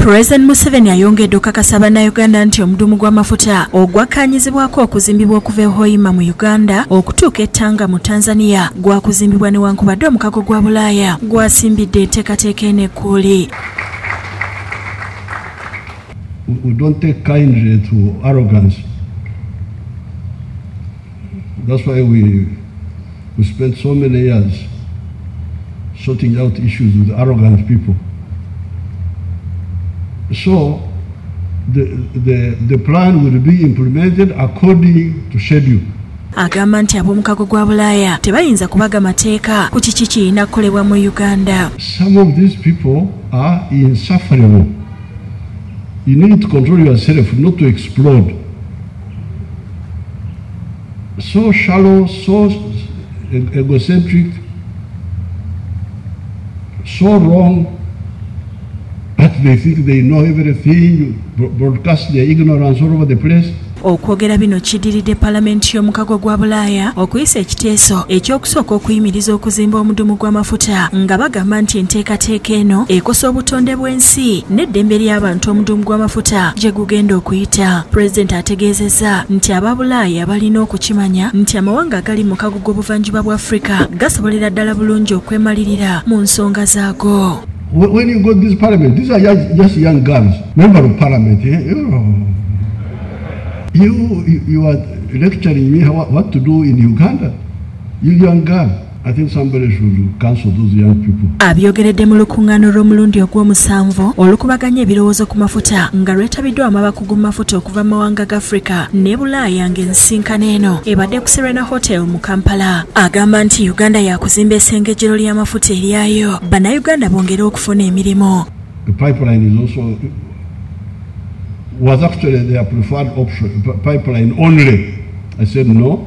President Museveni ayongedde okakasa bannayuganda nti omudumu gw'amafuta ogwakkaanyizibwako okuzimbibwa okuva e Hoima mu Uganda okutuuka e Tanga mu Tanzania gwakuzimbibwa newankubadde omukago gwa Bulaaya gwasimbidde enteekateeka eno ekkuuli. We don't take kindly to arrogance. That's why we, we spent so many years sorting out issues with arrogant people. So the, the, the plan will be implemented according to schedule. agamba nti ab'omukago gwa bulaaya tebayinza kubaga mateeka ku kiki kirina kukolebwa mu uganda some of these people are insufferable you need to control yourself not to explode so shallow, so egocentric, so wrong that they think they know everything, broadcast their ignorance all over the place. okwogera bino kidiridde palamenti y'omukago gwa bulaaya okuyisa ekiteeso ekyokusooka okuyimiriza okuzimba omudumu gw'amafuta nga bagamba nti enteekateeka eno ekosa obutonde ensi n'eddembe ly'abantu omudumu gw'amafuta gye gugenda okuyita pulezidenti ategeezezza nti aba bulaaya balina okukimanya nti amawanga agali mu kago g'obuvanjuba bwa afrika gasobolera ddala bulungi okwemalirira mu nsonga zaago When you go to this parliament, these are just, just young girls, member of parliament. Eh? You, you, you are lecturing me what to do in Uganda, you young girl. abyogeredde mu lukuŋŋaana olw'omulundi ogw'omusanvu olukubaganya ebirowoozo ku mafuta nga lwetabiddwamu abakugu mu mafuta okuva mu mawanga ga afirika ne bulaaya ng'ensinkano eno ebadde ku serena hotel mu kampala agamba nti uganda yakuzimba esengejero ly'amafuta eryayo bannayuganda bongere okufuna emirimu was actually their preferred option, pipeline only. I said no.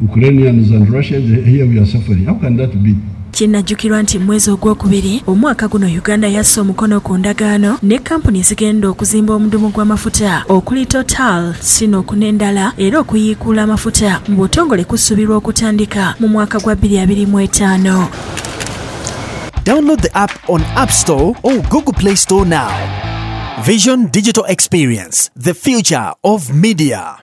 Ukrainians and Russians, here we are suffering. How can that be? kinnajjukirwa nti mu mwezi ogwokubiri omwaka guno uganda yassa omukono ku ndagaano ne kampuni zigenda okuzimba omudumu gw'amafuta okuli total sino okunendala era okuyiikuula amafuta mu butongole kusuubirwa okutandika mu mwaka gwa 2025 Download the app on App Store or Google Play Store now. Vision Digital Experience, the future of media.